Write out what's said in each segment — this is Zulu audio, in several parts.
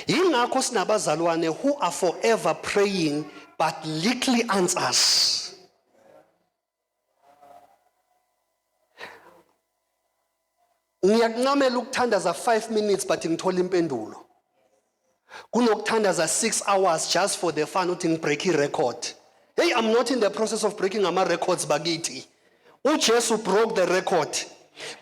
Yingakho sinabazalwane who are forever praying but little answers. Ngiyakuncamela ukuthandaza 5 minutes but ngithola impendulo. kunokuthandaza 6 hours just for the fun uthi ngibreak i-record hey i'm not in the process of breaking ama-records bakithi ujesu broke the record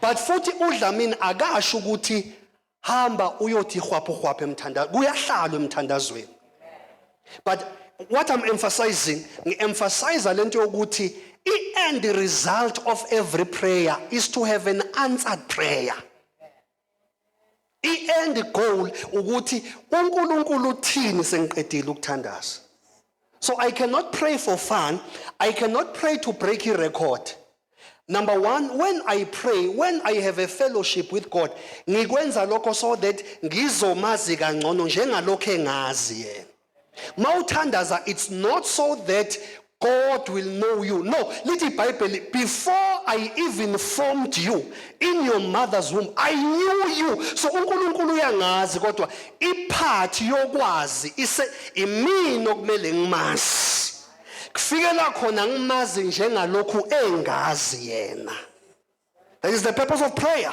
but futhi udlamini akasho ukuthi hamba uyothi hwaphu hwaphu emthandazo kuyahlalwa emthandazweni but what i'm emphasizing ngi-emphasiza lento yokuthi i-end result of every prayer is to have an answered prayer I-end goal ukuthi uNkulunkulu uthini sengiqedile ukuthandaza. So I cannot pray for fun. I cannot pray to break a record. Number one, when I pray, when I have a fellowship with God, ngikwenza lokho so that ngizomazi kangcono njengalokho engazi yena. mawuthandaza it's not so that God will know you no lithi ibhayibheli before I even formed you in your mother's womb I knew you so uNkulunkulu uyangazi kodwa iphathi yokwazi ise imini okumele ngimazi kufikela khona ngimazi njengalokhu engazi yena that is the purpose of prayer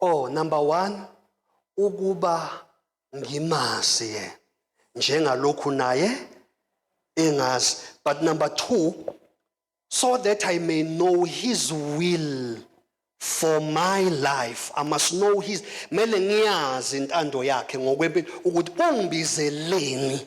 Oh number 1 ukuba ngimazi yena njengalokhu naye engazi but number 2 so that I may know his will for my life I must know his mele ngiyazi intando yakhe ngokwempilo ukuthi ungibizeleni